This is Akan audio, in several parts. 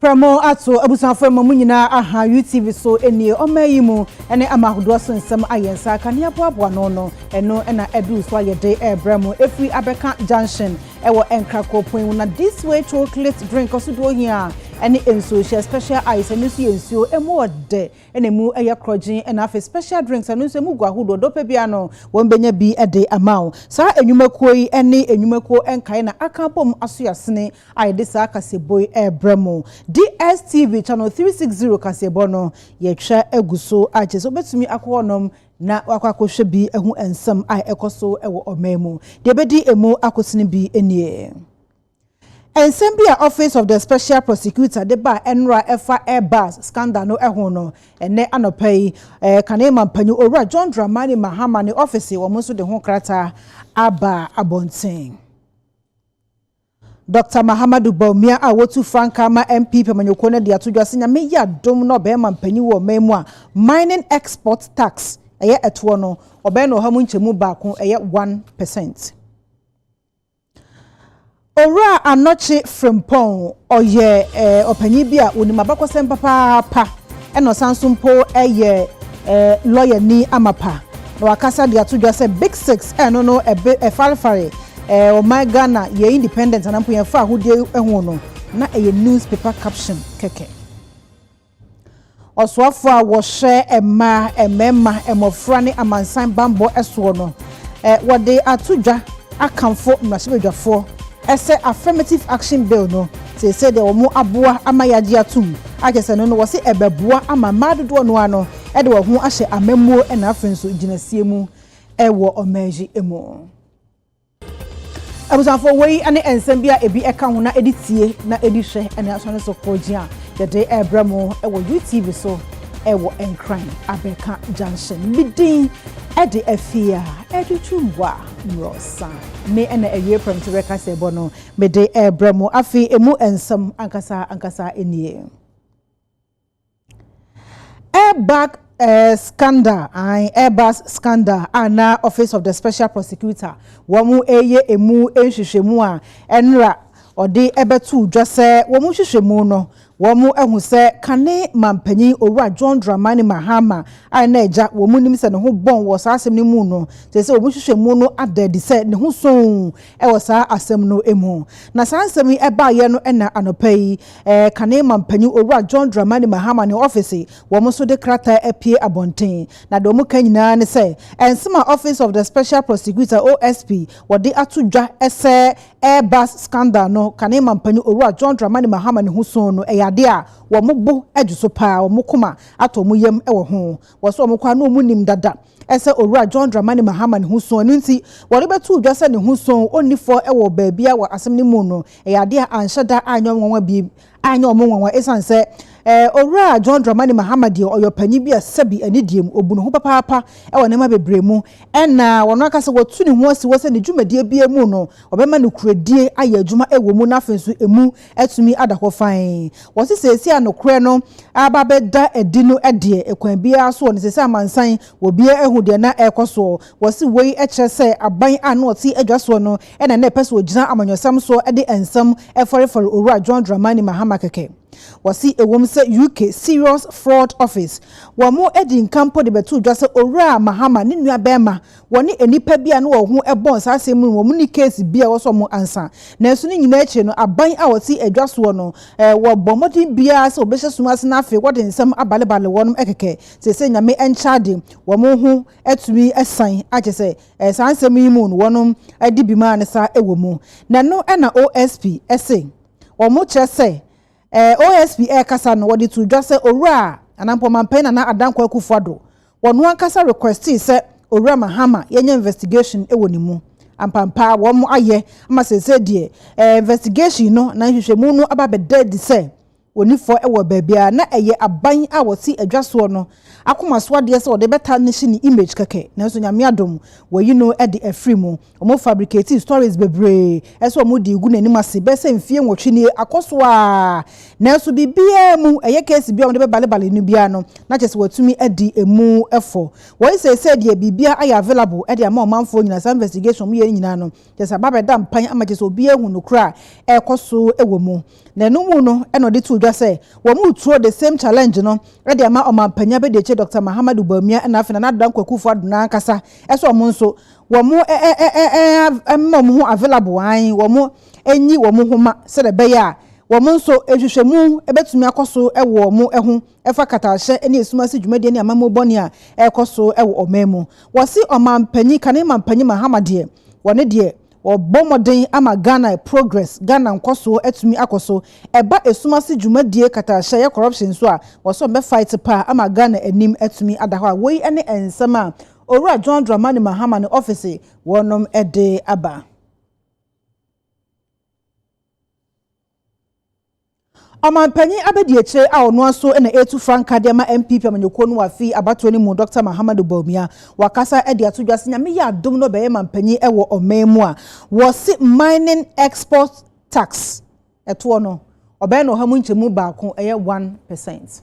Prɛmo ato abusuafo ɛma mo nyinaa aha UTV so nie ɔmaa yi mu ɛne ama ahodoɔ so nsɛm ayɛ nsa kanea boaboa ano no ɛno ɛna ɛduru so a yɛde ɛɛbrɛ mo ɛfiri abɛka junction ɛwɔ nkrako pon mu na this way chocolate drink ɔsodoɔ hia ɛne nsuo hyɛ special ice ɛno nso yɛ nsuo ɛmu wɔ dɛ ɛna ɛmu ɛyɛ krɔgyen ɛna afei special drinks ɛno nso ɛmu gu ahodoɔ dɔ pɛ biara no wɔn bɛnya bi ɛde ama wo saa ɛnwumakuo yi ɛne ɛnwumakuo ɛnkaeɛ na aka abom aso yasene a yɛde saa kaseɛbɔ yi rebrɛ mo. DSTV channel three six zero kaseɛbɔ no yɛtwa agu so a kyerɛ sɛ wobɛtumi akɔ hɔnom na wakɔ akɔhwɛ bi ahu nsɛm a ɛkɔ so wɔ ɔman mu. Deɛ ɛbɛdi ɛmu akosene bi nie. Nsɛm bi a Office of the Special Prosecutor de baa ɛnora a ɛfa Air Bus scandal no ho no, ɛnnɛ anɔpa yi Kane Mampanyin Owura John Dramani Mahama ne ɔfese wɔn nso de ho krataa aba abɔnten. Dɔkta Mahamadou Bawumia a wotu frankaa ma MP Pemanyoko no de ato dwa sɛ Nyame yɛ adom na ɔbɛɛma mpanyin wɔ ɔman mu a Mining Export Tax ɛyɛ ɛtoɔ no ɔbɛyɛ no ɔha mu nkyɛmu baako ɛyɛ one percent. Owura Anɔkye Frimpong ɔyɛ ɔpanyin bi a onim abakɔsɛm papaapa ɛna ɔsan so mpo ɛyɛ lɔyani amapa na wakasa de ato dwa sɛ Big Six ɛno no ɛbe ɛfarefare Ɛɛ ɔman Ghana yɛ independent anaa mpo yɛmfa ahodie ho no, na ɛyɛ news paper caption kɛkɛ. Ɔsoafoɔ a wɔhwɛ mmaa, mmarima, mmɔfra ne amansan bammɔ soɔ no, wɔde ato dwa akamfo mmarahyɛbadwafoɔ sɛ Affirmative Action Bill no, seesei deɛ wɔaboa ama yɛagye atom akyɛ sɛ no no, wɔse ɛbɛboa ama mmaa dodoɔ no ara no de wɔn ho ahyɛ amammuo na afei nso gyinasie mu wɔ ɔman yi mu. Abusuafo, wei ne nsɛm bi a ebi ka ho na edi tie na edi hwɛ ne asɔre so koogye a yɛde rebrɛ mo wɔ UTV so wɔ Nkran Abɛɛka Junction. Me din de Afia Adutwumboa Mmorɔsa. Me na awie prɛmkyerɛ kaseɛbɔ no mede rebrɛ mo. Afei emu nsɛm ankasa ankasa nie. Airbag scandal an airbag scandal a na office of the special prosecutor wɔn reyɛ emu nhwehwɛmu a ɛnora ɔde bɛtoo dwa sɛ wɔn nhwehwɛmu no wɔn ahu sɛ kane mampanyin owura john dramani mahama a na agya wɔn nim sɛ ne ho bɔn wɔ saa asɛm no mu no sɛ sɛ wɔn nhwehwɛmu no ada adi sɛ ne ho sɔn wɔ saa asɛm no mu na saa nsɛm yi ɛbaeɛ no ɛna anɔpa yi Ɛɛ, kane mampanyin Owura John Dramani Mahama ne ɔɔfese, wɔn nso de krataa apue abɔnten. Na deɛ wɔka nyinaa ne sɛ, ɛnsɛm a Office of the Special Prosecutor, OSP, wɔde ato dwa sɛ Air Bus scandal no, kane mampanyin Owura John Dramani Mahama ne ho soo no, ɛyɛ adeɛ a wɔn bo dwo so paa, wɔn koma atɔ wɔn yam wɔ ho. Wɔse wɔn koraa na wɔnim dada. Ɛsɛ Owura John Dramani Mahama ne ho su, ɛno nti wɔde bɛtoo dwa sɛ ne ho su ɔnni fɔ wɔ baabiara wɔ asɛm no mu no ɛyɛ adeɛ a anhyɛ da anyɛ nwanwa bi anyɛ wɔn nwanwa ɛsiane sɛ Owura John Dramani Mahama deɛ ɔyɛ ɔpanyin bi a sɛbi anidie mu ɔbu ne ho papaapa wɔ nneɛma bebree mu ɛna ɔno ankasa watu ne ho asi hɔ sɛ ne dwumadie biara mu no ɔbɛma nokorɛdie ayɛ adwuma wɔ mu na afei nso ɛmu atumi ada hɔ fann. Wɔse seesei a nokorɛ no aba abɛda adi no deɛ, ɛkwan biara soɔ no, ɛsɛ sɛ amansan wɔ biara ahu deɛ na ɛrekɔ soɔ. Wɔse wei kyerɛ sɛ aban a na ɔte adwa soɔ no na na ɛpɛ sɛ ɔgyina amanyɔsɛm soɔ de nsɛm fɔrefɔre Owura John Dramani Mahama kɛkɛ. Wɔse ɛwom sɛ UK Serious Fraud Office, wɔn adi nka mpo de bɛtoo dwa sɛ Owura Mahama ne nuabarima Wɔne nnipa bi a na wɔn ho bɔn saa asɛm mu no, wɔn ne case bi a ɛwɔ sɛ wɔn ansa. Nanso ne nyinaa akyiri no, aban a wɔte adwa soɔ no, wɔbɔ mmɔden biara sɛ wɔbɛhyɛ sum ase na afei wɔde nsɛm abalebale wɔn kɛkɛ. Seesei Nyame nkyɛ ade, wɔn ho atumi asan a kyerɛ sɛ saa nsɛm yi mu no wɔadi bem a ne saa wɔ mu. Na ɛno na OSP se wɔkyerɛ sɛ OSP ɛrekasa no wɔde too dwa sɛ Owura Anampɔn Manpanin Nana Adankwa Akufo-Addo wɔ no ankasa requestii sɛ Owura Mahama yɛnyɛ investigation wɔ ne mu. Ampampaa wɔn ayɛ ama seesei deɛ eh, investigation no na nhwehwɛmu no aba abɛda adi sɛ wɔni fɔ wɔ baabiara na ɛyɛ aban a wɔte adwa soɔ no akoma so adeɛ sɛ wɔde bɛta ne hye ne image kɛkɛ nanso Nyame adom wɔayi no de afiri mu. Ɔmo fabriketee stories bebree ɛsɛ ɔmo dii gu n'anim ase bɛyɛ sɛ mfie nwɔtwe nie akɔ so aa nanso biribiaa mu ɛyɛ case biaa ɔmo de bɛ bale bale no biaa no na kyɛsɛ watumi adi emu fɔ wɔyi seesei deɛ biribiaa ayɛ available ɛde ama ɔmanfoɔ nyinaa saa investigation ɔmo yɛ no nyinaa no kyɛsɛ aba bɛda mpan ama kyɛsɛ obiaa ahu nokore a ɛɛkɔ so wɔ mu na ɛno mu no ɛna ɔde too dwa sɛ wɔn retuo the same challenge no ɛde ama ɔmanpanyin abɛdiakyire Doctor Mahamadou Bawumia ɛna afei Nana Addo Dankwa Akufo Addo no ankasa ɛsɛ ɔmo nso wɔn ma wɔn ho available ae, wɔn nyi wɔn ho ma sɛdeɛ ɛbɛyɛ a wɔn nso nhwehwɛmu bɛtumi akɔ so wɔ wɔn ho ɛfa katahyɛ ne esum ase dwumadie ne amammuo bɔne a ɛrekɔ so wɔ ɔman mu. Wɔse ɔmanpanyin, kane manpanyin Mahama deɛ, wɔne deɛ, wɔbɔ mmɔden ama Ghana progress, Ghana nkɔsoɔ atumi akɔ so. Ɛba esum ase dwumadie, katahyɛ, ɛyɛ corruption nso a, wɔse wɔbɛ fight paa ama Ghana anim atumi ada hɔ a woi ne nsɛm a Owura John Dramani Mahama ne ɔfese wɔnom de aba. Ɔmanpanyin abadiakyire a ɔno ara so na ɛretu frankaa de ama NPP amanyɔkuo no wɔ afe yi abatoɔ no mu, Dɔkta Mahamadou Bawumia, wakasa de ato dwa sɛ Nyame yɛ adom na ɔbɛyɛ manpanyin wɔ ɔman mu a wɔse mining export tax ɛtoɔ no ɔbɛyɛ no ɔha mu nkyɛmu baako, ɛyɛ one percent.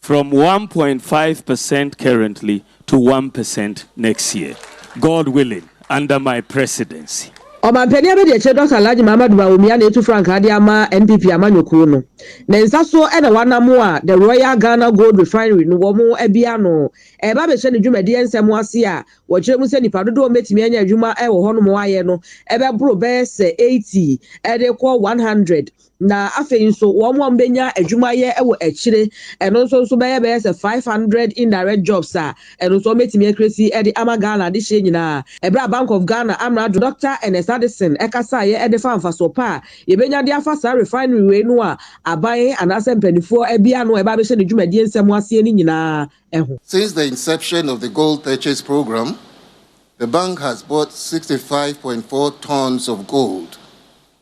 From one point five percent currently to one percent next year, God willing, under my presidency. Ɔmanpanin abadiakyire Dɔkta Alhaji Mahamadu Bawumia na etu frankaa de ama NPP amanyɔkuo no. Ne nsa so na wɔanamo a The Royal Ghana Gold Refinery no wɔn abue ano reba abɛhyɛ ne dwumadie nsɛm ase a wɔkyerɛ mu sɛ nnipa dodoɔ a wɔbɛtumi anya adwuma wɔ hɔnom ayɛ no bɛboro bɛyɛ sɛ eighty de rekɔ one hundred Na afei nso, wɔn a wɔbɛnya adwuma ayɛ wɔ akyire, ɛno nso nso bɛyɛ bɛyɛ sɛ five hundred indirect jobs a ɛno nso wɔbɛtumi akresi de ama Ghana adehyeɛ nyinaa. Ɛberɛ a Bank of Ghana amrado Doctor Ernest Addison kasaeɛ de faa mfasoɔ pa a yɛbɛnya de afa saa refinery wei no a aban anaasɛ mpaninfoɔ abia ano a ɛba abɛhyɛ ne dwumadie nsɛm aseɛ no nyinaa ho. Since the inception of the Gold Purchase Programme, the Bank has bought sixty five point four tonnes of gold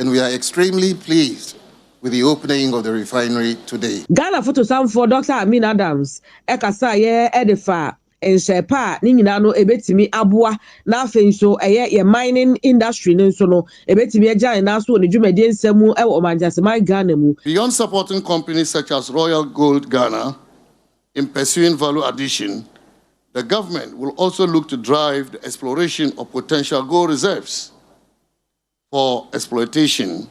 and we are extremely pleased with the opening of the refinery today. Ghana fotosanfoɔ Dɔkta Amin Adams kasaeɛ de faa nhyɛɛ pa a ne nyinaa no ɛbɛtumi aboa na afei nso ɛyɛ yɛn mining industry no nso no ɛbɛtumi agya ne nan so wɔ ne dwumadie nsa mu wɔ Ɔmangyɛseman Ghana mu. Beyond supporting companies such as Royal Gold Ghana in pursuing value addition, the government will also look to drive the exploration of potential gold reserves for exploitation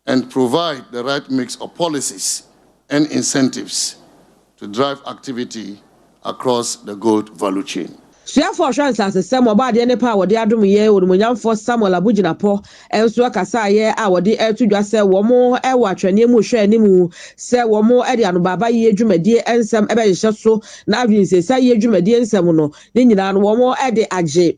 and provide the right mix of policies and incentives to drive activity across the gold value chain. Suafoɔ ɔhwɛ nsasesɛm ɔbɔadeɛ ne pɛ a wɔde adom yɛn onimuonyamfoɔ Samuel Abu Jinapor nso kasaeɛ a wɔde to dwa sɛ wɔn wɔ atwɛneɛ mu rehwɛ anim sɛ wɔn de anobaabayie dwumadie nsɛm bɛhyehyɛ so na adwene nsesaayie dwumadie nsɛm no ne nyinaa no wɔn de agye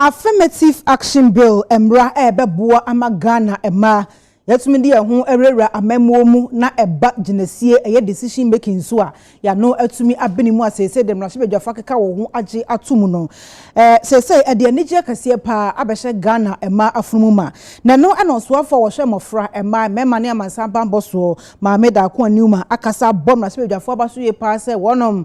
Affirmative Action Bill mmara a ɛbɛboa ama Ghana mmaa yɛatumi de yɛn ho awurawura amammuo mu na ɛba gyinasie, ɛyɛ decision making so a yɛano atumi abene mu a seesei deɛ mmarahyɛbadwafo akeka wɔn ho agye ato mu no. Seesei ɛde anigyeɛ kɛseɛ paa abɛhyɛ Ghana mmaa afono mu ma. Na ɛno na ɔsoafoɔ a wɔhwɛ mmɔfra, mmaa, mmarima ne amansan bammɔ soɔ, Maame Darko Aniuma akasa abɔ mmarahyɛbadwafoɔ abaso yie paa sɛ wɔnom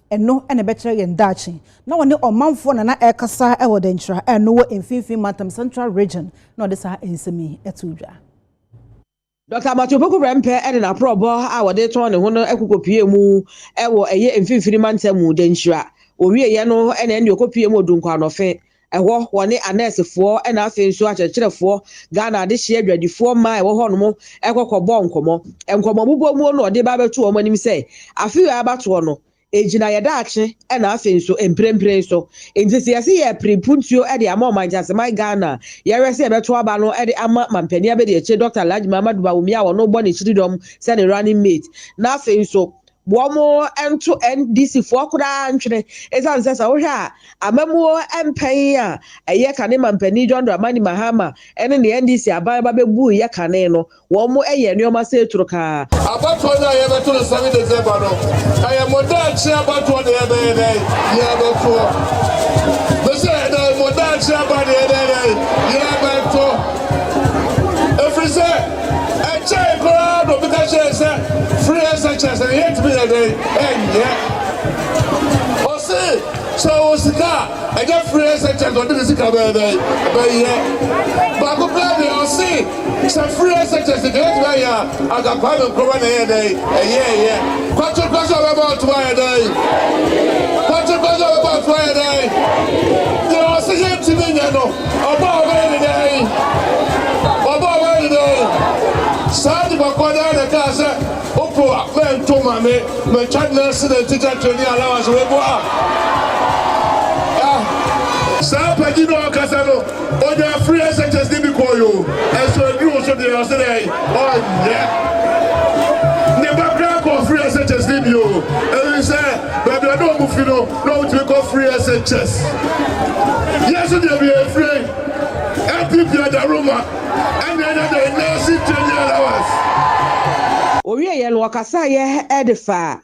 Ɛno na ɛbɛkyerɛ yɛn daakye. Na ɔne ɔmanfoɔ na na ɛrekasa wɔ Dankyira a ɛno wɔ Mfinfin Mantam, Central Region, na ɔde saa nsɛm yi too dwa. Dɔkta Abatsi Opoku Prempeh de n'aporɔbɔ a wɔde retɔn ne ho no kokɔpuee mu wɔ ɛyɛ Mfinfini Mantam mu, Dankyira. Wɔwieeɛ no na ɛnneɛ ɔkɔpuee mu Odunkwa Anɔfe, Ɛhɔ, wɔne anɛɛsefoɔ na afei nso akyerɛkyerɛfoɔ, Ghana adehyeɛ adwadifoɔ mmaa a ɛwɔ hɔnom kɔ kɔbɔɔ nkɔmmɔ. Nkɔmmɔ bobɔmuo no ɔde ba bɛto wɔn anim sɛ, afe wei abatoɔ no, ɛgyina yɛ daakye na afei nso mprempren so. Enti sɛ yɛse yɛrepere mpuntuo de ama Ɔman Kyaseman Ghana a yɛwerɛ sɛ yɛbɛto aba no de ama Mampanin Abadiakyire Dɔkta Alhaji Mahamadou Bawumia a wɔno bɔ ne kyiridɔm sɛ ne running mate na afei nso Wɔnto NDC foɔ koraa ntwene ɛsiane sɛ sɛ wohwɛ a amammuo mpɛn a ɛyɛ kane mampanin John Dramani Mahama ne ne NDC aban ba bɛbuiɛ kane no wɔyɛ nnoɔma sɛ turo kaa. Abatoɔ no a yɛbɛto no seven December no ɛyɛ mo daakye abatoɔ na yɛbɛyɛ dɛn yɛbɛto mesɛ ɛnɛ mo daakye aba na yɛbɛyɛ dɛn yɛbɛto ɛfiri sɛ Ɛkyɛe koraa na obi ka kyerɛɛ sɛ free SHS na yɛntumi nyɛ dɛn ɛnyɛ. Ɔse sɛ ɔwɔ sika a ɛnyɛ free SHS ɔde ne sika bɛyɛ dɛn bɛyɛ. Baako koraa deɛ ɔse sɛ free SHS nka yɛtumi ayɛ a anka Kwame Nkrumah na ɛyɛ dɛn ɛyɛɛyɛ. Kwakye kwa sɛ ɔbɛbɔ atom ayɛ dɛn. Kwakye kwa sɛ ɔbɛbɔ atom ayɛ dɛn. Deɛ ɔse yɛntumi nyɛ no. Ɔbɔ a ɔbɛyɛ ne dɛn? Ɔbɔ a ɔbɛyɛ ne dɛn? Saa de bɔkɔɔ no ara na ɛkaa sɛ, Opo a, mɛnto mma me, mɛtwa ne nan ase na nti gya treni allowance wei bo a. Ah! Saa pagyi no a ɔkasa no, ɔnyaa free SHS de bi kɔɔe o, ɛnso ɛduru wo so deɛ, ɔse dɛn? Ɔnyɛ! Ne ba koraa kɔɔ free SHS de bi o, ɛfiri sɛ baabi a na wɔn fi no, na wotumi kɔ free SHS. Yɛn so deɛ bia efire MPP adaroma ɛna ɛna deɛ nursing training allowance. Ɔwieɛ no ɔkasaeɛ de faa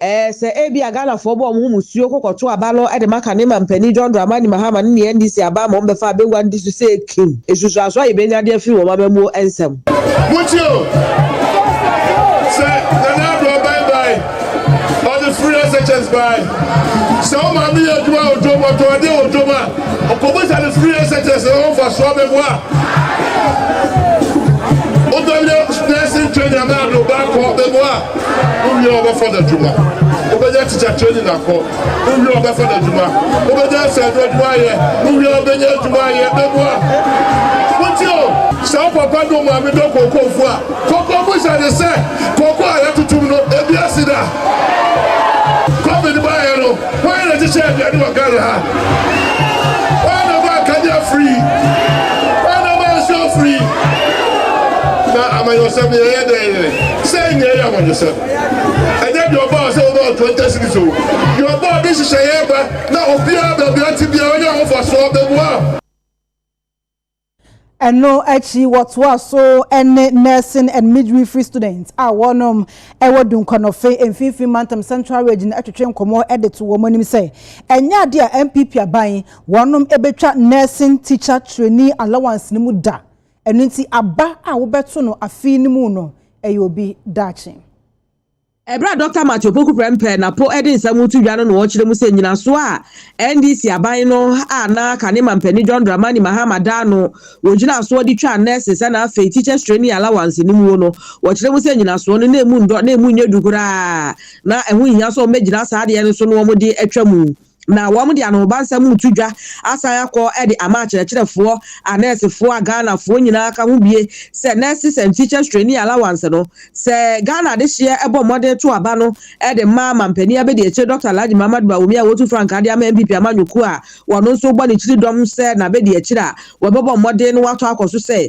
ɛɛ sɛ ebia Ghanafoɔ bɔ wɔn ho musuo kɔ kɔto aba no de ma kane mampanin John Dramani Mahama ne ne NDC aba ma wɔbɛfa abɛwura no tiri so sɛ ekim nsusuansoɔ a yɛbɛnya de afiri wɔn amammuo nsam. Motie o, sɛ Nana Addo Aban bae ɔde free SHS bae. Sɛ wo maame yɛ adwuma wɔ dwom, ɔtɔn adeɛ wɔ dwom a, ɔkɔbisa ne free SHS na ɔmfa so abɛboa. Wobɛnyɛ nursing training anaa de ɔba akɔ bɛboa. Wowie ɔbɛfa no adwuma. Wobɛnyɛ teacher training akɔ. Wowie ɔbɛfa no adwuma. Wobɛnyɛ ɛsɛ ɛdo adwuma ayɛ. Wowie ɔbɛnyɛ adwuma ayɛ bɛboa. Wotie o? Sɛ wo papa ne wo maame dɔ kookoofoɔ a, Koko mu hyɛ ne sɛ koko a yɛtotom no ebi asi da. Covid baeɛ no, hwan na ɛhyehyɛ aduane wɔ Ghana ha? Hwan na maa kanea firii? Hwan na maa nsuo firii? Na amanyɔsɛm no yɛyɛ dɛn? Sɛn nyɛ ɛyɛ amanyɔsɛm? Ɛnyɛ deɛ ɔbɔɔ sɛ wobɔɔ twenty cities o, deɛ ɔbɔɔ de nhyehyɛeɛ ba na obiara baabi a ɔte biara ɔnya ahofasoɔ bɛboa. Ɛno akyi wɔtoaa so ne Nursing and Midwifery students a wɔnom wɔ Dunkwanofe Mfinfini Mantam Central Region no twetwe nkɔmmɔ de to wɔn anim sɛ ɛnyɛ ade a NPP aban wɔnom bɛtwa Nursing Teacher Trainee Allowance no mu da. Ɛno nti aba a wobɛto no afe no mu no yɛ obi daakye. Bere a Dɔkta Matthew Opoku Prempeh na po de nsɛm reto dwa no na ɔkyerɛ mu sɛ nnyinaso a NDC aban no a na aka ne mampanin John Dramani Mahama daa no wɔ gyinasoɔ de twaa nurses ɛna afei teachers training allowance no muo no, wɔkyerɛ mu sɛ nnyinasoɔ no na ɛmu nnɔ na ɛmu nyɛ du koraa na ɛho nhia sɛ wɔbɛgyina saa adeɛ no so na wɔde atwa mu. na wɔde anohobansɛm mu to dwa asan akɔ de ama akyerɛkyerɛfoɔ, anɛɛsefoɔ a Ghanafoɔ nyinaa ka ho bie sɛ Nurses and Teachers Trainee Allowance no, sɛ Ghana adehyeɛ bɔ mmɔden to aba no de ma Mampanin Abadiakyire Dɔkta Alhaji Mahamat Bawumia a wɔtu frankaa de ama NPP amanyɔkuo a wɔn nso bɔ ne kyiridɔm sɛ n'abadiakyire a wɔbɛbɔ mmɔden na wɔatɔ akɔ so sɛ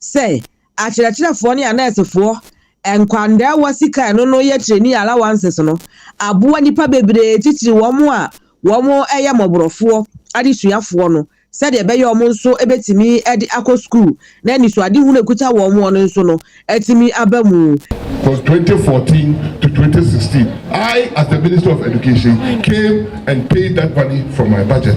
Sɛ akyerɛkyerɛfoɔ ne anɛɛsefoɔ, nkwandaawa sika ɛno no yɛ training allowances no aboa nnipa bebree titiri wɔn a wɔn yɛ mɔborɔfoɔ adesuafoɔ no sɛdeɛ ɛbɛyɛ wɔn nso bɛtumi de akɔ sukuu na anisoadehunu a ɛkuta wɔn wɔn no nso no atumi aba mu. From twenty fourteen to twenty sixteen, I as the Minister of Education came and paid that money from my budget.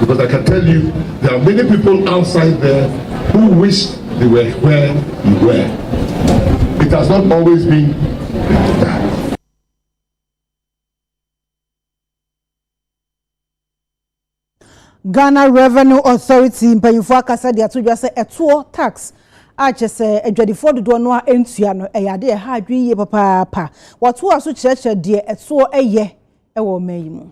Because I can tell you there are many people outside there who wish they were where you were. It has not always been like that. Ghana Revenue Authority mpanyinfoɔ akasa de ato dwa sɛ ɛtoɔ tax a kyɛ sɛ adwadifoɔ dodoɔ no a ɛntua no ɛyɛ adeɛ ɛha adwene yie papaapa. Wɔtoa so kyerɛkyerɛ deɛ ɛtoɔ ɛyɛ ɛwɔ ɔman yi mu.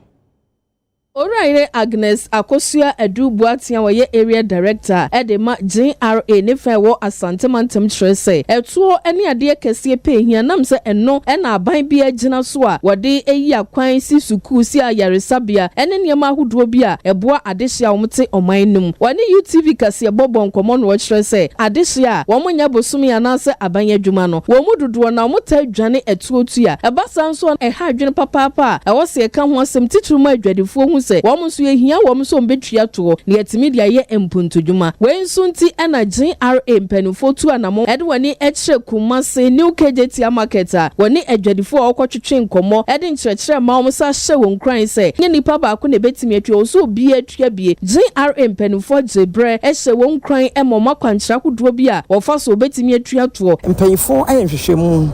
Owura Yere Agnes Akosua Adu Boaten a ɔyɛ Area Director de ma GRA ne fa a ɛwɔ Asante Mantam kyerɛ sɛ ɛtoɔ ne adeɛ kɛseɛ pɛ ɛhia nam sɛ ɛno na aban biara gyina so a wɔde yi akwan si sukuu, si ayaresabea ne nneɛma ahodoɔ bi a ɛboa adehye a wɔte ɔman no mu. Ɔne UTV kaseɛbɔ bɔ nkɔmmɔ na ɔkyerɛ sɛ adehye a wɔnyɛ bosome anaasɛ aban adwuma no wɔn mu dodoɔ no wɔtaa dwane ɛtoɔ tu a ɛba saa nso a ɛha adwene papaapa a ɛwɔ sɛ yɛka ho asɛm, titiriw ma adwadifoɔ hu sɛ wɔn nso yɛhia wɔn sɛ wɔbɛtua toɔ na yɛatumi de ayɛ mpuntunnwuma. Wei nso nti na GRA mpanimfoɔ tu anammɔn de wɔn ani kyerɛ Kumasi New Kejetia Market a wɔne adwadifoɔ a wɔkɔtwetwe nkɔmmɔ de nkyerɛkyerɛ ma wɔn san hyɛ wɔn nkuran sɛ ɛnyɛ nnipa baako na ɛbɛtumi atua, ɛwɔ sɛ obiara tua bi. GRA mpanimfoɔ gye berɛ hyɛ wɔn nkuran ma wɔn akwankyerɛ ahodoɔ bi a wɔfa so a wɔbɛtumi atua toɔ. Mpanyimfoɔ ayɛ nhwehwɛmu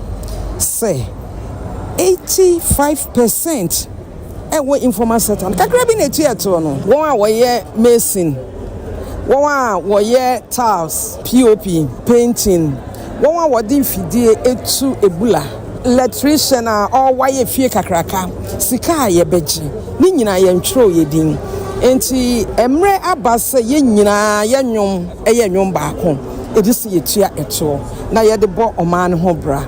sɛ eighty five percent ɛwɔ informal sector no kakra bi na etu ɛtoɔ no wɔn a wɔyɛ mason wɔn a wɔyɛ tiles pop painting wɔn a wɔde mfidie etu ebula electrician a ɔwayɛ fie kakraka sika a yɛbɛgye ne nyinaa yɛn twerɛ yɛ din nti mmerɛ aba sɛ yɛn nyinaa yɛ nnwom ɛyɛ nnwom baako ɛdi sɛ yɛtua ɛtoɔ na yɛde bɔ ɔman no ho bra.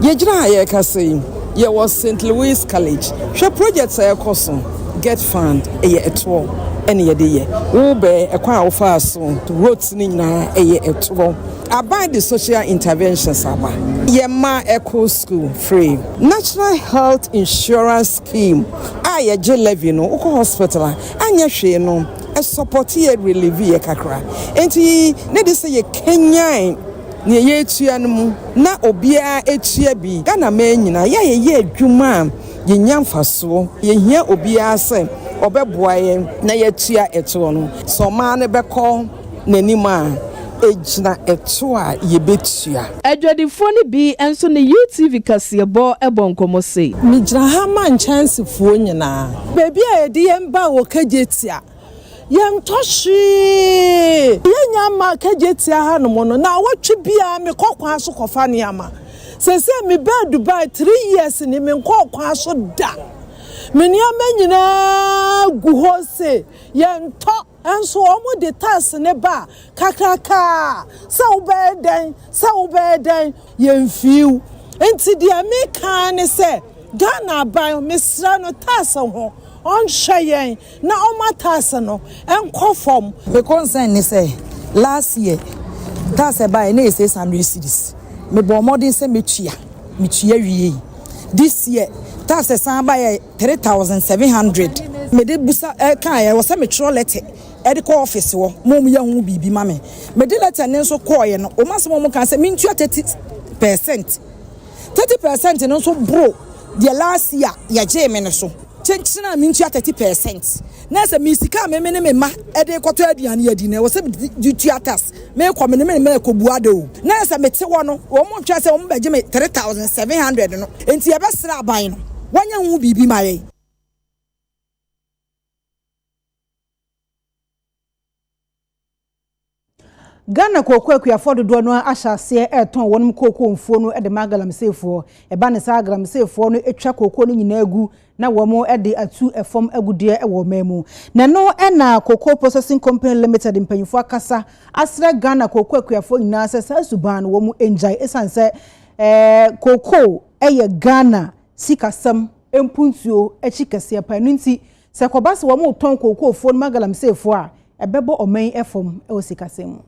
Yɛgyina ha a yɛrekasa yi, yɛwɔ Saint Louis College. Hwɛ projects a ɛrekɔ so. Get fund, ɛyɛ ɛtoɔ ɛna yɛde yɛ. Wobɛɛ ɛkwan a wofaa so, roads no nyinaa ɛyɛ ɛtoɔ. Aban de social interventions aba. Yɛn mma ɛkɔ school free. National Health Insurance Scheme a yɛgye levy no, wokɔ hospital a, anyɛ hwee no, ɛsupporte yɛ, ɛrelieve yɛ kakra. Enti ne de sɛ yɛkanyan nea yɛretua no mu. na obiara atua bi. Ghanaman nyinaa, yɛ a yɛyɛ adwuma a, yɛnya mfasoɔ. Yɛhia obiara sɛ ɔbɛboa yɛn na yɛatua ɛtoɔ no. Sɛ ɔman no bɛkɔ n'anim a, ɛgyina ɛtoɔ a yɛbɛtua. Adwadifoɔ no bi nso ne UTV kaseɛbɔ bɔ nkɔmmɔ sei. Megyina ha ma nkyɛnsefoɔ nyinaa. Baabi a yɛde yɛn baa wɔ Kagyetia Yɛntɔ hwee. Yɛnya mma Kejetia hanom no, naawɔtwe biara mekɔ kwan so kɔfa nneɛma. Seesei mebaa Dubai three years ni, menkɔɔ kwan so da. Me nneɛma nyinaa gu hɔ se yɛntɔ. Nso wɔde tax no ba a, kakrakaa sɛ wobɛyɛ dɛn, sɛ wobɛyɛ dɛn, yɛmfii wo. Nti deɛ meka ara ne sɛ, Ghana aban, mesrɛ no tax ho, ɔnhwɛ yɛn. Na ɔma tax no nkɔ fam. Me concern ne sɛ last year tax a ɛbaeɛ na ɛyɛ six hundred cedis. Me bɔɔ mmɔden sɛ mɛtua, me tua wiei. This year tax a ɛsan baeɛ yɛ three thousand seven hundred. Me de bisa kaeɛ, ɛwɔ sɛ me twerɛ letter de kɔ office hɔ ma wɔn yɛ ho biribi ma me. Me de letter no nso kɔeɛ no, wɔn asɛm a wɔn kaa sɛ me ntua thirty percent. Thirty percent no nso boro deɛ last year yɛgyee me no so. Kyenkyen a mentua thirty percent na sɛ me sika a meme ne me mma de rekɔtɔ aduane adi na ɛwɔ sɛ mede tua tax mekɔ me ne me mma ɛkɔbu ada o na sɛ mete hɔ no wɔn ntwɛn sɛ wɔn bɛgye me three thousand seven hundred no enti yɛbɛsrɛ aban no wɔnyɛ ho biribi ma yɛn. Ghana kooko akuafoɔ dodoɔ no ara ahyɛ aseɛ retɔn wɔnom kooko mfuo no de ma agalamseyfoɔ. Ɛba no saa a, agalamseyfoɔ no twa kooko no nyinaa gu na wɔde atu fam agudeɛ wɔ ɔman mu. Na ɛno na Cocoa Processing Company Limited mpanyinfoɔ akasa asrɛ Ghana kooko akuafoɔ nyinaa sɛ saa suban no wɔn ngyae esiane sɛ ɛɛ kooko yɛ Ghana sikasɛm. mpuntuo akyi kɛseɛ paa. Ɛno nti, sɛ ɛkɔba sɛ wɔretɔn kookoofoɔ no ma galamseyfoɔ a, ɛbɛbɔ ɔman yi fam wɔ sikasɛm mu.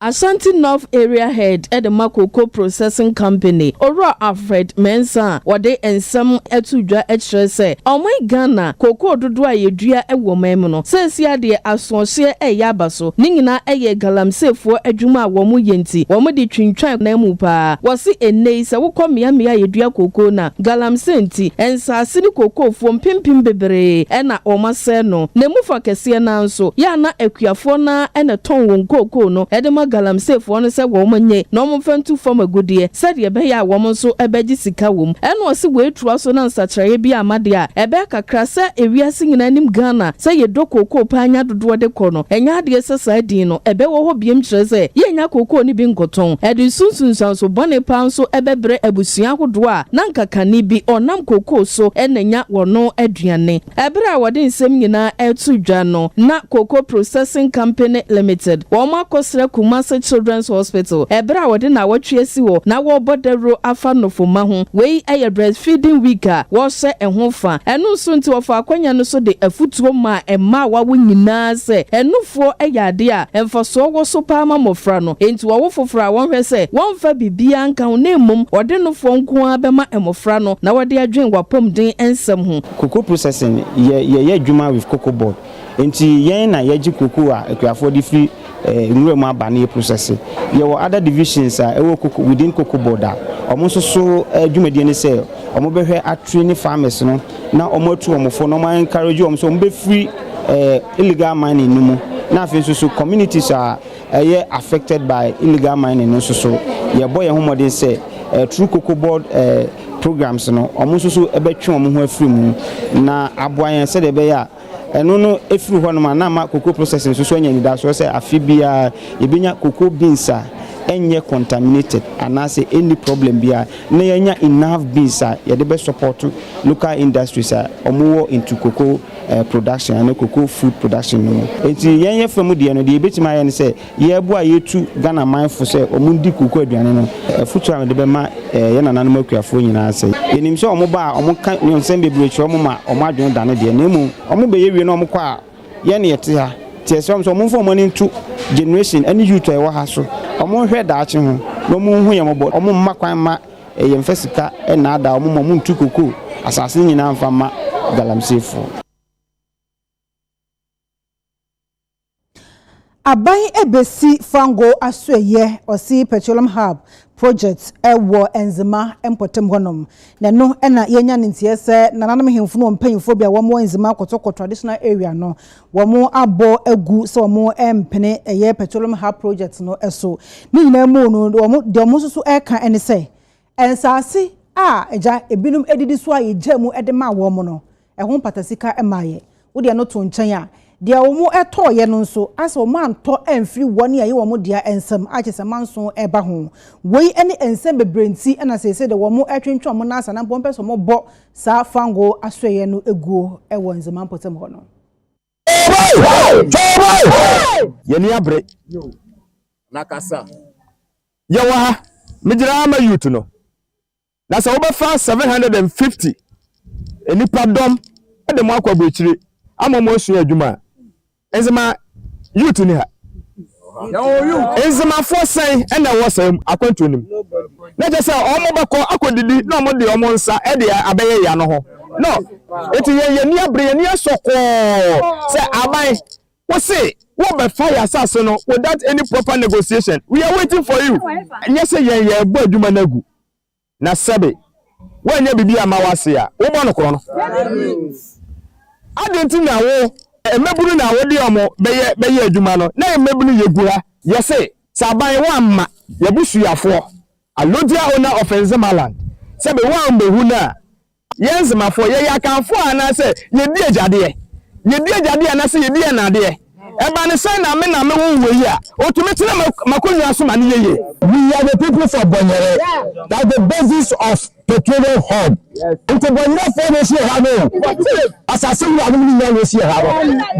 Ashanti North Area Head de ma Cocoa Processing Company, Owura Alfred Mensah a wɔde nsɛm ato dwa kyerɛ sɛ, Ɔman Ghana, kookoo dodoɔ a yɛdua wɔ ɔman mu no, seesei ara deɛ asoɔhyeɛ reyɛ aba so. so. Ne nyinaa ɛyɛ galamseefoɔ adwuma a wɔn yɛ nti, wɔn de twintwan nan mu paa. Wɔse ɛnnɛ yi sɛ wokɔ mmeammea a yɛdua kookoo no a, galamsee nti, nsaase ne kookoofoɔ mpempem beberee ɛna wɔn asɛe no. Na ɛmu fa kɛseɛ no ara nso, yɛ a na akuafoɔ no ara ɛna ɛtɔn wɔn kookoo no ɛde ma galamseefoɔ no sɛ wɔn nyɛ na wɔn mfa ntu fam agudeɛ sɛdeɛ ɛbɛyɛ a wɔn nso ɛbɛgye sika wɔ mu. Ɛna ɔse wei toa so na nsakyeraeɛ bi amma deɛ a, ɛbɛyɛ kakra sɛ ewiase nyinaa nim Ghana sɛ yɛdɔ kookoo paa nya dodoɔ de kɔ no, ɛnyɛ adeɛ sɛ saa din no bɛwɔ hɔ biom kyerɛ sɛ yɛnnya kookoo no bi nkɔtɔn. Ɛde so nsunsuanso bɔne paa nso bɛbrɛ abusua ahodoɔ a na anka kane bi ɔnam kookoo so na nya wɔn aduane. Ɛberɛ a wɔde nsɛm nyinaa reto dwa no, na Cocoa Processing Company Limited wɔn akɔsra Kumasi Children's Hospital ɛberɛ a wɔde nnawɔtwe asi hɔ na wɔrebɔ dawuro afa nnɔfumma ho. Wei yɛ Breastfeeding Week a wɔhyɛ ho fa. Ɛno nso nti wɔfaa akwanya no so de afutuo maa. Mma a wɔawo nyinaa sɛ anufoɔ yɛ adeɛ a mfasoɔ wɔ so paa ma mmɔfra no. Enti wɔwo foforɔ a, wɔnhwɛ sɛ wɔmfa biribiara nka ho na mmom wɔde nofoɔ nko ara bɛma mmɔfra no na wɔde adwene w'apɔmuden nsɛm ho. Cocoa processing yɛ yɛyɛ adwuma with cocoa board nti yɛn na yɛgye cocoa a akuafoɔ de firi eh, nwura mu aba na yɛprosɛse. Yɛwɔ other divisions a ɛwɔ koko within koko board a wɔn nso so eh, dwumadie ne sɛ wɔbɛhwɛ atri ne farmers no na wɔn atu wɔn fo na wɔn encourage wɔn sɛ wɔn bɛfiri eh, illegal mining no mu na afei nso so communities a ɛyɛ affected by illegal mining no nso so yɛbɔ yɛn ho mmɔden sɛ eh, through koko board eh, programs no wɔn nso so ɛbɛtwe wɔn ho afiri mu na aboa yɛn sɛdeɛ ɛbɛyɛ a Ɛno no, ɛfiri hɔnom a na ama cocoa processing nso so anya anidasoɔ sɛ afe biara yɛbɛnya cocoa beans a ɛnyɛ contaminated anaasɛ ɛnni problem biara na yɛanya enough beans a yɛde bɛ support local industries a wɔwɔ into cocoa production anaa cocoa food production no mu. Enti yɛn yɛfa mu deɛ no, deɛ yɛbɛtumi ayɛ ne sɛ, Yɛɛboa a yɛtu Ghana man fo sɛ wɔn ndi kuku aduane no, afutuo a mede bɛma yɛn nananom akuafoɔ nyinaa sɛ, yɛnim sɛ wɔn ba a wɔn ka nnyonsɛm bebree kyerɛ wɔn ma wɔn adwene dane deɛ, na mmom wɔn bɛyɛ wie na wɔn kɔ a yɛn na yɛte ha, nti yɛsrɛ wɔn sɛ wɔn mfa wɔn ani nto generation ɛne youth a yɛwɔ ha so, wɔn nhwɛ daakye ho na wɔn nhu yɛn mmɔbɔ, wɔn mma kwan mma yɛn mfa sika nnaadaa wɔn ma wɔn ntu cocoa asaase no nyinaa mfa mma galamseyfoɔ. Aban ebesi Fango Asoɛeɛ Ɔsee Petroleum Hub project wɔ Nzema mpɔtam hɔnom. Na ɛno na yɛanya ne nteɛ sɛ nananom ahemfo no wɔn mpanyimfoɔ bi a wɔn wɔ Nzema Kotoko traditional area no, wɔn abɔ agu sɛ wɔn rempene ɛyɛ Petroleum Hub project no so. Ne nyinaa mu no, wɔn, deɛ wɔn nso so reka ne sɛ, Nsaase a agya ebinom adidi so a yegyaa mu de maa wɔn no, ɛho mpata sika mmaa yɛn. Wode ɛno to nkyɛn a, deɛ wɔtɔeɛ no nso, ayɛ sɛ wɔantɔ amfiri wɔn a ɛyɛ wɔn dea nsam, a kyerɛ sɛ manso reba ho. Wei ne nsɛm bebree nti na seesei deɛ wɔretwentwɛn wɔn nan ase anaa mpo wɔpɛ sɛ wɔbɔ saa fangoo asoɛeɛ no guo wɔ Nzema mpɔtam hɔ no. Y'ani abere. Na kasa. Yɛ wɔ ha. Me gyina ha ma youth no. Na sɛ wobɛfa 750 nnipa dɔm de mo akɔ aburokyire ama wɔn asua adwuma a, ɛnze ma youth ni ha. Nzemafoɔ sɛn na ɛwɔ saa akwantuo no mu? Na kyerɛ sɛ wɔbɛkɔ akɔdidi na wɔde wɔn nsa de abɛyɛ yea no ho. No, enti yɛn yɛn ani abere, yɛn ani asɔ kɔɔ sɛ aban wose wobɛfa yɛn asase no without any proper negotiation. We are waiting for you. Ɛnyɛ sɛ yɛn yɛrebɔ adwuma no agu. Na sɛbe woannya biribi amma w'ase a, wobɔ no korɔn. Adɛn nti na wo. Mmabunu na wode wɔn bɛyɛ bɛyɛ adwuma no, na yɛn mmabunu yɛ gu ha. Yɛse, sɛ aban woamma y'abusuafoɔ, Alodia Owner of Nzemaland, sɛbe woammehu no a, Yɛn Zemafoɔ, yɛyɛ Akanfoɔ anaasɛ yɛdi agyadeɛ? Yɛdi agyadeɛ anaasɛ yɛdi ɛnadeɛ? Ɛba no sɛ Name na mewoo wɔ yi a, ɔtumi tena m'akonnwa so ma no yɛ yie. We are the people for Bonyere that the basis of petroleum hub nti Bonyerefoɔ na ɛsi ɛha no o, asase wura nom nyinaa na ɛsi ɛha no.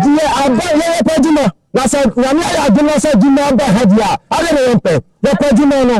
Deɛ aba yɛ yɛpɛ adwuma na sɛ Nyame ayɛ adom na sɛ adwuma ba ha deɛ a adɛn na yɛmpɛ? Yɛpɛ adwuma no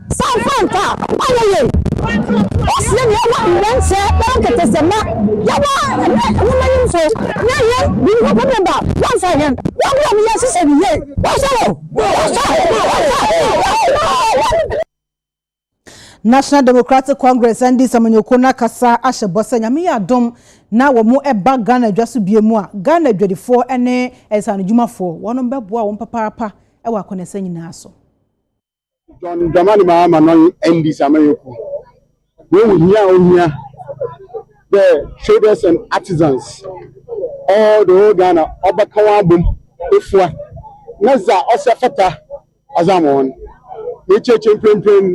Saa mfanta a ɔayɛ yie esie nea ɔwɔ ndɛnkyɛ bɛyɛ nketesɛmba, yɛwɔ ndɛ nwomanimfo na hɛn Winnipeg member wɔmmfa hɛn, wɔmboa mu yɛnhyehyɛ no yie. Wɔsɔr o, wɔsɔr, wɔsɔr, wɔsɔr. National Democratic Congress, NDC, amanyɔkuo no akasa ahyɛ bɔ sɛ Nyame yɛ adom na wɔba Ghana adwa so biom a, Ghana adwadifoɔ ne nsaanodwumafoɔ, wɔnom bɛboa wɔn papaapa wɔ akwanɛsɛ nyinaa so. John Dramani Mahama no ndi samayɛku wɔn hia a ohia the traders and artisans all the whole Ghana ɔbɛka wɔn abom efua na dza ɔsɛ fata ɔdze ama wɔn n'ekyirɛkyirɛ mprempren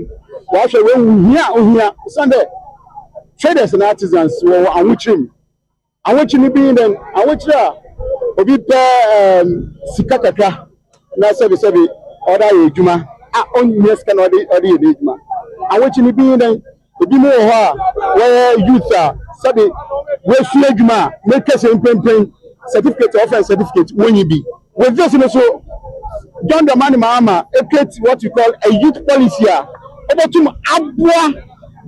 wɔahwɛ wɔn hia a ohia osiandɛ traders and artisans wɔwɔ ahokyerɛ mu. Ahokyere no bi ne dɛn? Ahokyere a obi pɛ um, sika kakra na sɛbesɛbe ɔde ayɛ adwuma a ɔnhia sika na ɔde ɔde yɛ n'adwuma. Ahokyere no bi ne dɛn? Ebi mu wɔ hɔ a wɔyɛ youth a sɛbe wɔasua adwuma a mɛtwa sɛ mprempren certificate a wɔfrɛ no certificate wɔnyi bi. Wɔ Jesu no so, John the man maa ma e create what we call a youth policy a obotum aboa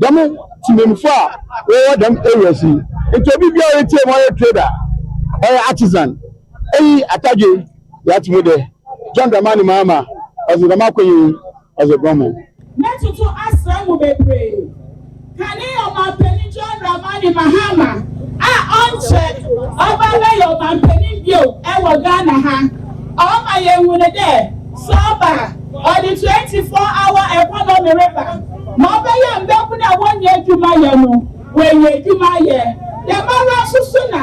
dɛm tsemamufoɔ a wɔwɔ dɛm areas yi. Ntsi obi biara a oetsie mu ɔyɛ trader, ɔyɛ artisan, eyi atadwe yɛ atse mu dɛ John Dramani Mahama ɔdze dɛm akwanyi yi Ɔdze bɔ mo. Mɛtoto asɛm mu bebree. Kane Ɔmanpanin John Dramani Mahama a ɔnkyɛ ɔba abɛyɛ Ɔmanpanin bio wɔ Ghana ha. Ɔma yehu no dɛ sɛ ɔba a, ɔdze twenty four hour economy reba ma ɔbɛyɛ mbabun a wonnyi edwuma yɛ no, woeenya edwuma ayɛ. Dɛmara so so na.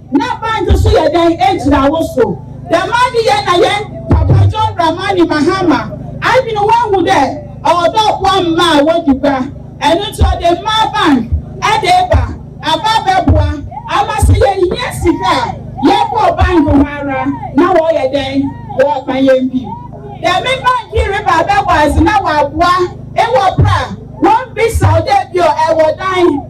Na bank so yɛ dɛn gyina wo so? Dɛm ade yɛ na yɛn Papa John Dramani Mahama adwene woehu dɛ ɔwɔ dɛ ɔboa mma a wodi gua. Ɛno ntsi ɔdze mmaa bank de reba aba abɛboa ama sɛ yehia sika a, yɛbɔɔ bank hɔ ara na wɔyɛ dɛn, wɔma yɛn bi. Dɛm bank yi reba abɛwɔ adze na wɔaboa ewɔ ber a wommbisa wo dɛ bi a ewɔ dan,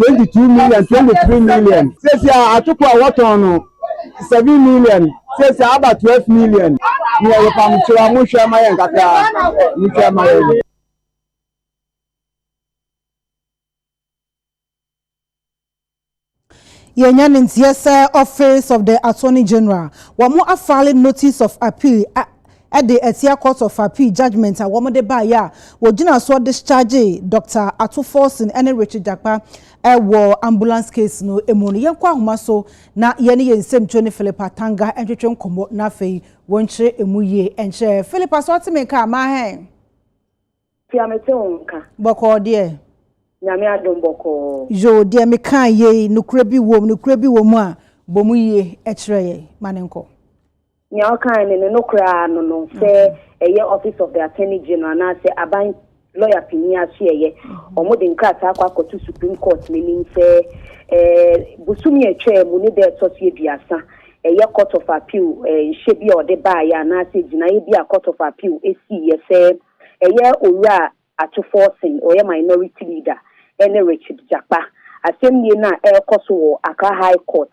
twenty two million twenty three million sɛsi a atoko a wɔtɔn no seven million sɛsi a aba twelve million ne ɛyɛ pam kyerɛ a mohwɛ ma yɛn kakra mohwɛ ma yɛn. yɛnya ne nteɛ sɛ office of the attorney general wɔn afile notice of appeal de atia Court of Appeal judgement a wɔde baeɛ a wɔgyinaa soɔ dischargee Doctor Ato Forson ne Richard Jakpa wɔ ambulance case no mu no. Yɛnkɔ ahoma so na yɛne yɛn nsɛmtwerɛ ni Philip Atanga ntwetwe nkɔmmɔ na afei wɔnkyerɛ ɛmu yie nkyerɛ. Philip, asɛ wote me nka a, ma hɛn. Tia me te wo nka. Bɔkɔɔ deɛ. Nyame adom bɔkɔɔ. Yoo deɛ me kaa yei nokorɛ bi wom nokorɛ bi wɔ mu a bɔ mu yie kyerɛ yɛn ma no nkɔ. Nea ɔkae no ne nokorɛ ara no no sɛ ɛyɛ office of the attorney general anaa sɛ aban lɔya panin asoɛeɛ wɔn de nkrataa kɔ akɔto supreme court no anim sɛ ɛɛ bosome a ɛtwaa mu ne da ɛtɔ so aduasa ɛyɛ court of appeal ɛɛ nhyɛ bi a ɔde baeɛ anaa sɛ gyinaeɛ bi a court of appeal ɛsiiɛ sɛ Ɛyɛ Owura Atufɔɔ Singh, ɔyɛ Minority Leader, ne Richard Jakpa. Asɛmnie no a ɛrekɔ so wɔ Accra High Court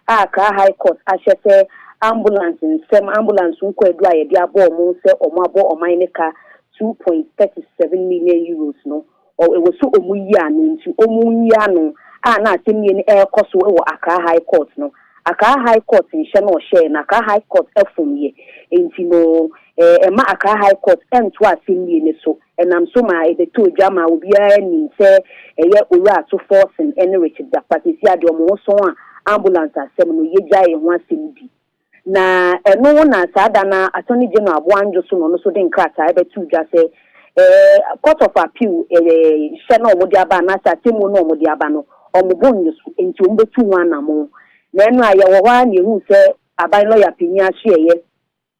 a Accra High Court ahyɛ sɛ ambulance nsɛm, ambulance ho kwaadu a yɛde abɔ wɔn sɛ wɔabɔ ɔman no ka two point thirty seven million euros no, Ɔ ɛwɔ sɛ ɔmo yi ano nti ɔmo nyi ano a na asɛmnie no ɛɛkɔ so wɔ Accra High Court no. Accra High Court nhyɛ no ɔhyɛɛ no Accra High Court ɛfom yɛ nti no ɛ ɛma Accra High Court ɛntoa asɛmnie no so ɛnam so maa ɛbɛtɔɔ dwa maa obiara nim sɛ ɛyɛ Owura Ato Forson ɛne Richard Dapaah. Seesei a deɛ ɔmo ho sɔn a Ambulance asɛm no yɛgyaee ho asɛm di Na ɛno na saa da no ara Attorney General Aboandjo Sono no nso de nkrataa rebɛto dwa sɛ ɛɛ Court of Appeal ɛɛ hyɛ no a wɔde aba anaasɛ atemmuo no a wɔde aba no wɔbɔ nnye so nti wɔbɛtu ho anamon. Na ɛno a yɛwɔ hɔ ara na yɛhunu sɛ Aban Lɔya Panin Ahyeɛeɛ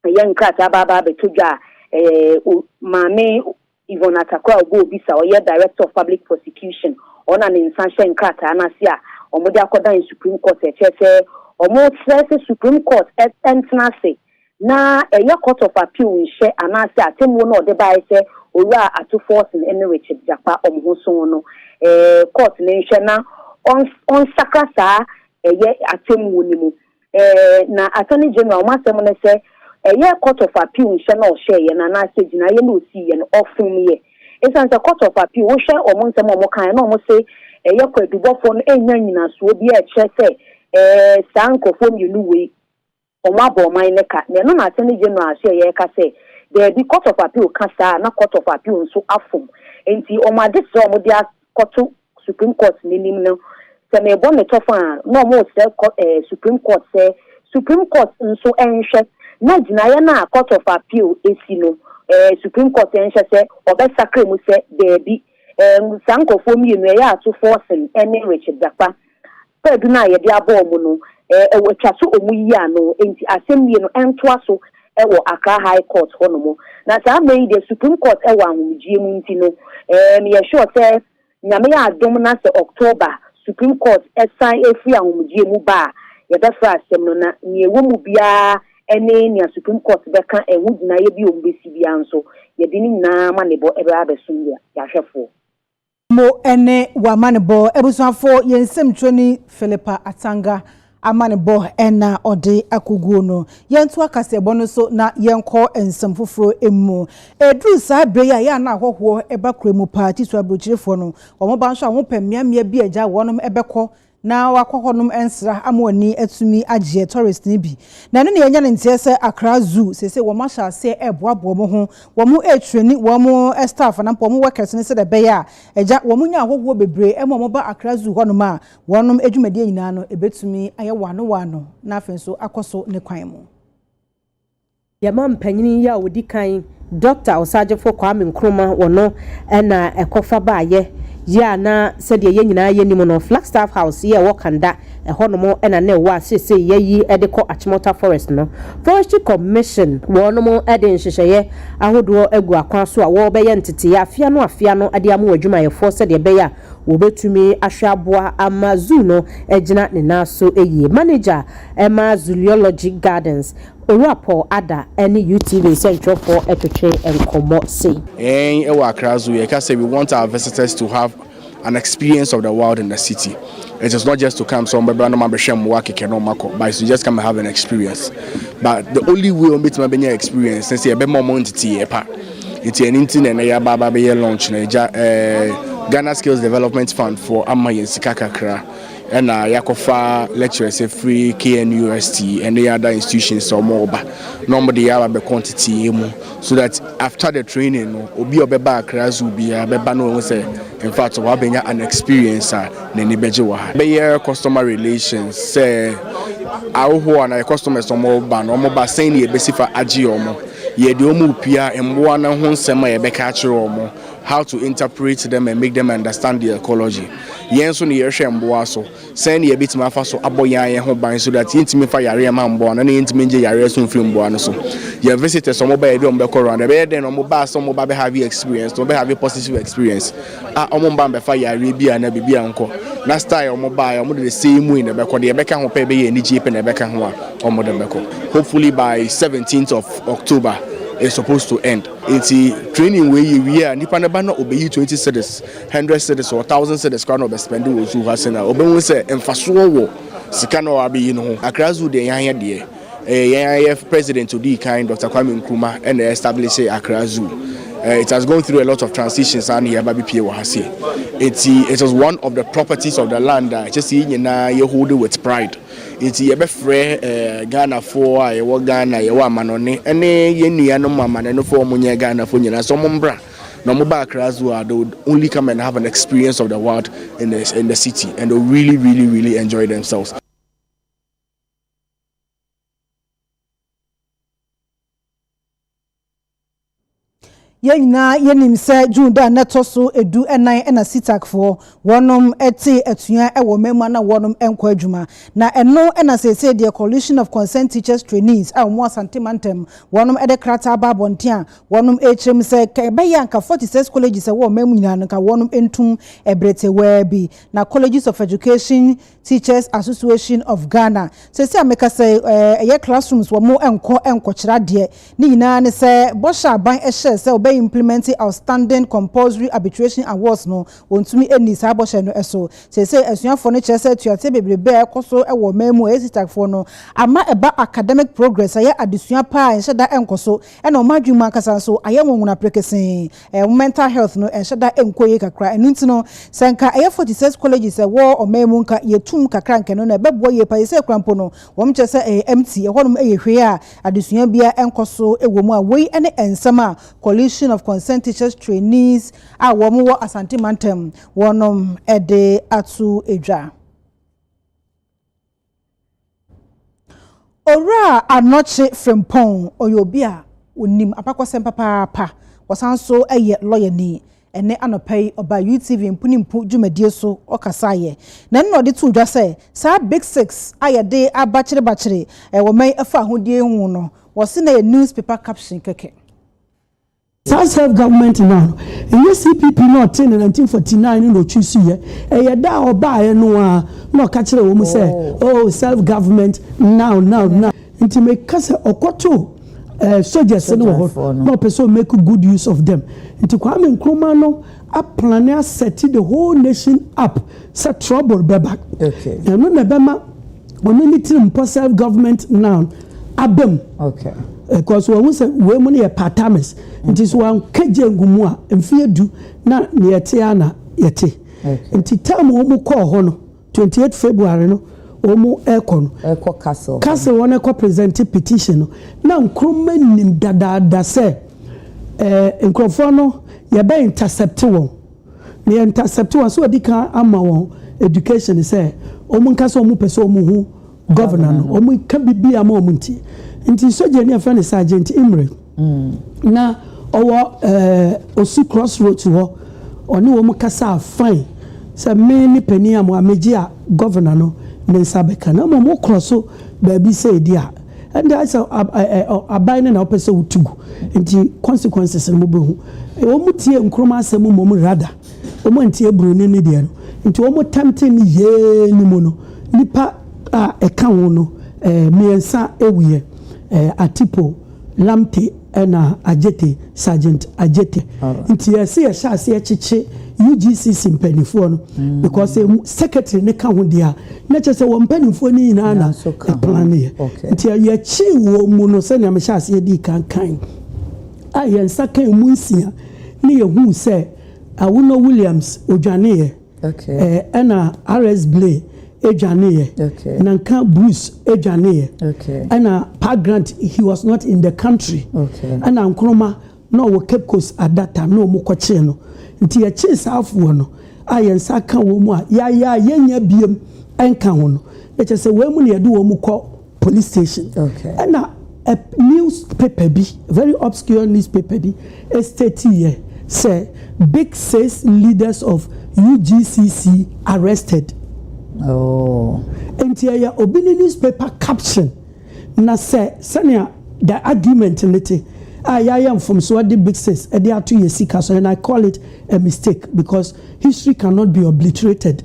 ɛyɛ nkrataa aba aba abɛtɔ dwa a ɛɛ o Maame Yvonne Atakor a ɔbɔ obi sa, ɔyɛ Director of Public Prosecution, ɔno na ne nsa hyɛ nkrataa no ase a wɔde akɔdan Supreme Court a ɛkyerɛ sɛ wɔresrɛ sɛ Supreme Court ntena ase na ɛyɛ Court of Appeal nhyɛ anaasɛ atemmuo no a ɔde baeɛ sɛ Owura Ato Forson ne Richard Gyakpa wɔn ho so no Court no nhwɛ na ɔnsakra saa ɛyɛ atemmuo no mu. Ɛɛ, na Attorney General, m'asɛm ne sɛ, ɛyɛ Court of Appeal nhyɛ no a ɔhyɛeɛ no anaasɛ gyinaeɛ no a ɔsiiɛ no, ɔfomyɛ. Ɛsiane sɛ Court of Appeal, wohwɛ wɔn nsɛm a wɔkaeɛ no a wɔse ɛyɛ kwaadubɔfoɔ no nnya nnyinasoɔ biara a ɛkyerɛ sɛ ɛɛ saa nkurɔfoɔ mmienu wei wɔabɔ ɔman no ka. Na ɛno na Attorney General ahyɛeɛ reka sɛ daabi, Court of Appeal ka saa a na Court of Appeal nso afom. Enti wɔn adesrɛ a wɔde kɔto Supreme Court n'anim no, sɛ merebɔ no tɔfã a, na wɔresrɛ kɔ ɛɛ Supreme Court sɛ Supreme Court nso nhwɛ na gyinaeɛ no a Court of Appeal asi no, ɛɛ Supreme Court nhwɛ sɛ wɔbɛsakra mu sɛ daabi. Ɛɛ saa nkorɔfoɔ mmienu, ɛyɛ Atufo Orson ne Richard Dakwa. Kwaadu no a yɛde abɔ wɔn no, wɔatwa so wɔn yi ano, enti asɛnnue no ntoa so wɔ Accra High Court hɔnom. Na saa mmerɛ yi deɛ Supreme Court wɔ ahomegyeɛ mu nti no, meyɛ sure sɛ Nyame adom na sɛ October Supreme Court san firi ahomegyeɛ mu ba a, yɛbɛfrɛ asɛm no na nea ɛwɔ mu biara ne nea Supreme Court bɛka, ɛho gyinaeɛ bi a wɔbɛsi biara nso, yɛde ne nyinaa amanebɔ bɛba abɛsom yɛn ahwɛfoɔ. Mo ne w'amanebɔ abusuafo yɛ nsɛmtwerɛni Philippa Atanga amanebɔ na ɔde akɔguo no. Yɛntoa kaseɛbɔ no so na yɛnkɔ nsɛm foforɔ mu. Ɛduru saa berɛ yi a, ɛyɛ a na ahɔhoɔ ba kura mu paa, titire aburokyirefoɔ no. Wɔba nso a, wɔpɛ mmeammea bi a agya wɔnom bɛkɔ na wakɔ hɔnom nsra ama w'ani atumi agyeɛ tourist no bi na ɛno na yɛnya no nteɛ sɛ Accra Zoo seesei wɔn ahyɛ aseɛ ɛɛboaboa wɔn ho wɔn ɛɛtrɛni wɔn staff anaa mpo wɔn workers no sɛdeɛ ɛbɛyɛ a agya wɔn nya ahɔhoɔ bebree ɛma wɔn ba Accra Zoo hɔnom a wɔnom adwumadie nyinaa no ɛbɛtumi ayɛ waano waano na afei nso akɔ so ne kwan mu. Yɛma mpanyin yi a wɔdi kan, Dɔkta Ɔsaagyefo Kwame Nkrumah, wɔ no na ɛkɔfa baeɛ yi a na sɛdeɛ yɛn nyinaa yɛnim no, Flagstaff House yi a ɛwɔ Kanda, ɛhɔnom na na ɛwɔ a seesei yɛayi de kɔ Achimota Forest no. Forestry Commission, wɔnom de nhyehyɛeɛ ahodoɔ agu akwan so a wɔrebɛyɛ nteteeɛ afe ano afe ano de ama wɔn adwumayɛfoɔ sɛdeɛ ɛbɛyɛ a wɔbɛtumi ahwɛ aboa ama Zoo no agyina ne nan so yie. Manager ma Zoology Gardens, Owura Paul Adah ne UTV nsɛntwerɛfoɔ retwetwe nkɔmmɔ sei. Yɛn wɔ Accra Zoo, yɛka sɛ we want our visitors to have an experience of the wild in the city. It is not just to come sɛ wɔbɛbra na wɔabɛhwɛ mmoa kɛkɛ na wɔakɔ, but it's to just come and have an experience. But the only way wɔbɛtumi abɛnya experience ne sɛ yɛbɛma wɔn nteteeɛ pa. Nti ɛno nti na ɛnɛ yɛaba aba abɛyɛ launch na agya eh, Ghana Skills Development Fund foɔ ama yɛn sika kakra. ɛna yɛakɔfa lecturers afiri KNUST ɛne other institutions a wɔn ba na wɔn de yaba bɛkɔ nteteeɛ mu so that after the training no obi a ɔbɛba Accra Zoo biara bɛba na wɔn sɛ in fact wabɛnya an experience a n'ani bɛgye wɔ ha. Bɛyɛ customer relations sɛ ahohoɔ anaa yɛ customers a wɔn ba no wɔn ba sɛn na yɛbɛsi fa agye wɔn, yɛde wɔn repia mmoa no ho nsɛm a yɛbɛka akyerɛ wɔn. How to interpret them and make them understand their ecology. Yɛn nso no yɛhwɛ mboa so. Sɛn na yɛbɛtumi afa so abɔ yɛn ayɛ ho ban so that yɛntumi mfa yareɛ mma mboa no ɛna yɛntumi ngye yareɛ so mfiri mboa no so. Yɛn visitors a wɔn ba yɛ bi a wɔn bɛkɔ Rwanda ɛbɛyɛ dɛn na wɔn baa sɛ wɔn ba bɛ have experience na wɔn bɛ have positive experience a wɔn mma mbɛfa yareɛ bi a na biribi a nkɔ na style a wɔn baa yɛ wɔn de the same way na ɛbɛkɔ deɛ ɛbɛka ho pɛ ɛbɛyɛ anigyie pɛ na ɛbɛka ho a wɔn de mbɛkɔ. Hopefully by 17th of October it's supposed to end. Enti training wei yɛ wie a nipa no ba na ɔbɛyi twenty cedis, hundred cedis or thousand cedis koraa na ɔbɛ spend wɔ zoo ha sɛn a ɔbɛhu sɛ mfasoɔ wɔ sika no a wabɛyi no ho. Accra Zoo deɛ yɛn deɛ ɛyɛ yɛn ara yɛ president odii kan Doctor Kwame Nkrumah ɛna establish Accra Zoo. It has gone through a lot of transitions a na yɛba bɛpie wɔ ha sɛ. Enti it is one of the properties of the land a ɛkyɛ sɛ yɛn nyinaa yɛ hold with pride. Nti yɛbɛfrɛ Ghanafoɔ a yɛwɔ Ghana, yɛwɔ amanɔne ne yɛn nuanom amanɔnefoɔ a wɔn nyɛ Ghanafoɔ nyinaa sɛ wɔn mbra na wɔn ba Accra Zoo a they would only come and have an experience of the wild in the in the city and they really really really enjoy themselves. Yɛn nyinaa yɛnim sɛ June da a na ɛtɔ so edu nan na Sitakfoɔ wɔnom tee atua wɔ mmamu a na wɔnom nkɔ adwuma. Na ɛno na seesei deɛ Coalition of Concerned Teachers Trainees a wɔn wɔ Asante Mantam wɔnom de krataa aba abɔnten a wɔnom rekyerɛ mu sɛ ka ɛbɛyɛ a nka 46 colleges ɛwɔ ɔman mu nyinaa no nka wɔnom ntum ɛberɛ tewaa bi na Colleges of Education Teachers Association of Ghana, Seesei a mekasa yi, ɛyɛ classrooms wɔn nkɔ nkɔkyerɛ adeɛ. Ne nyinaa ne sɛ bɔhyɛ aban hyɛɛ sɛ wɔbɛ implement outstanding compulsory arbitration awards no, wɔntumi nnii saa bɔhyɛ no so. Seesei asuafoɔ no kyerɛ sɛ atuateɛ bebrebe a ɛkɔ so wɔ ɔman mu a ɛyɛ Sitacfoɔ no ama ɛba academic progress ayɛ adesua pa a nhyɛda nkɔ so ɛna wɔn adwene mu ankasa nso ayɛ nwonwona prekesee. Wo mental health no ɛnhyɛ da nkɔ yie kakra. Ɛno nti no, sɛ nka ɛyɛ forty six colleges a ɛwɔ ɔman mu nka yɛtum kakra nka ɛno no ɛbɛboa yie paa. Seesei koraa mpo no, wɔn kyerɛ sɛ ɛyɛ empty, ɛhɔnom ɛyɛ hwee a adesua biara nkɔ so wɔ mu a wei ne nsɛm a Coalition of Concerned Teachers Trainees a wɔn wɔ Asante mantam wɔnom de ato dwa. Owura Anokye Frimpong, ɔyɛ obi a ɔnim abakɔsɛm papaapa, ɔsan nso yɛ lɔyani. Ɛnnɛ anɔpa yi, ɔbaa UTV Mpo ne Mpo dwumadie so, ɔkasaeɛ. Na ɛno na ɔde too dwa sɛ, saa Big Six a yɛde abakyerebakyere wɔn afahodie ho no, wɔse na ɛyɛ newspaper caption kɛkɛ. Saa self government no ara, ɛnyɛ CPP na ɔtee no 1949 no na ɔchuusuiɛ, ɛyɛ da a ɔbaeɛ no ara na ɔka kyerɛɛ wɔn sɛ, oh, self government now, now, now. Nti meka sɛ ɔkɔtoo eh, soldiers no wɔ hɔ na ɔpɛ sɛ ɔmake good use of them. Nti Kwame Nkrumah no aplane asɛte the whole nation up sɛ trouble bɛba. Ɛno na ɛbɛma wɔn ani tirim mpo self government noun aba mu because wɔn ho sɛ wei mu no yɛ part timers nti so wɔn ka gye ngu mu a mfeɛ du na nea ɛte a na yɛte nti term wɔn mu kɔɔ hɔ no twenty eight february no wɔn mu ɛkɔ no ɛkɔ castle castle wɔn ɛkɔ present petition no na nkuruma nim dadaada sɛ ɛɛ nkurɔfoɔ no yɛbɛ intercept wɔn. na yɛ intercept wɔn sɛ ɔdi kan ama wɔn education sɛ wɔn nka sɛ wɔn pɛ sɛ wɔn hu governor no wɔn ka bibi ama wɔn nti nti sogya ni afɛn ne sergeant imre mm. na ɔwɔ ɛɛ eh, osi crossroads hɔ ɔne wɔn kasa fine sɛ me ne panyin a mo amegye a governor no ne nsa bɛka na wɔn kɔ so baabi sɛ edi a. Ɛnde ayɛ sɛ aban no na wopɛ sɛ wotu gu, enti consequences no mobɛhu. Wɔtiee Nkrumah asɛm mmom rather, wɔantie Broni no deɛ no, nti wɔn tempting no yee no mu no, nnipa a ɛka ho no mmiɛnsa wuiɛ, Atipo, Lamptey, Ɛna Adjetey, Sergeant Adjetey nti yɛse yɛhyɛ aseɛ kyekye UGCC mpaninfoɔ no because emu secretary no ka ho deɛ a na kyerɛ sɛ wɔn mpaninfoɔ no nyinaa na ɛplaneɛ nti yɛkyee wɔn mu no sɛnea mehyɛ aseɛ dii kan kan a yɛn nsa ka emu nsia ne yɛhuu sɛ Awuno Williams odwaneeɛ Ɛna RS Blay dwaneeɛ. Nanka Bruce dwaneeɛ. Ɛna Pa Grant he was not in the country. Ɛna Nkrumah na ɔwɔ Cape Coast at that time na wɔn kɔkyee no. Nti yɛkyee saa afoɔ no a yɛn nsa ka wɔn mu a yɛayɛ a yɛnnya biam nka ho no. Na kyerɛ sɛ wɔn mu na yɛde wɔn kɔ Police station. Okay. Ɛna a news paper bi, very obscure news paper bi, estate yɛ sɛ big six leaders of UGCC arrested. Oh. Nti ɛyɛ obi ne news paper caption na sɛ sɛnea the argument ne te a yɛayɛ mfomsoɔ de big six ɛde ato yɛ sika so and I call it a mistake because history cannot be obliterated.